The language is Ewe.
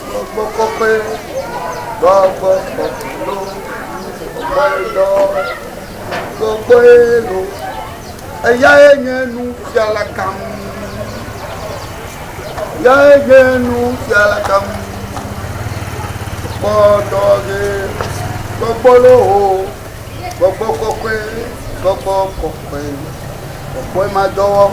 Gbɔgbɔ kɔkɔe, gbɔgbɔ kɔkɔe lo, gbɔgbɔe dɔ, gbɔgbɔe lo, eyae nye nufiala gã, eyae nye nufiala gã, gbɔ dɔ ge, gbɔgbɔ lo ho, gbɔgbɔ kɔkɔe, gbɔgbɔ kɔkɔe, gbɔgbɔe ma dɔ wɔm.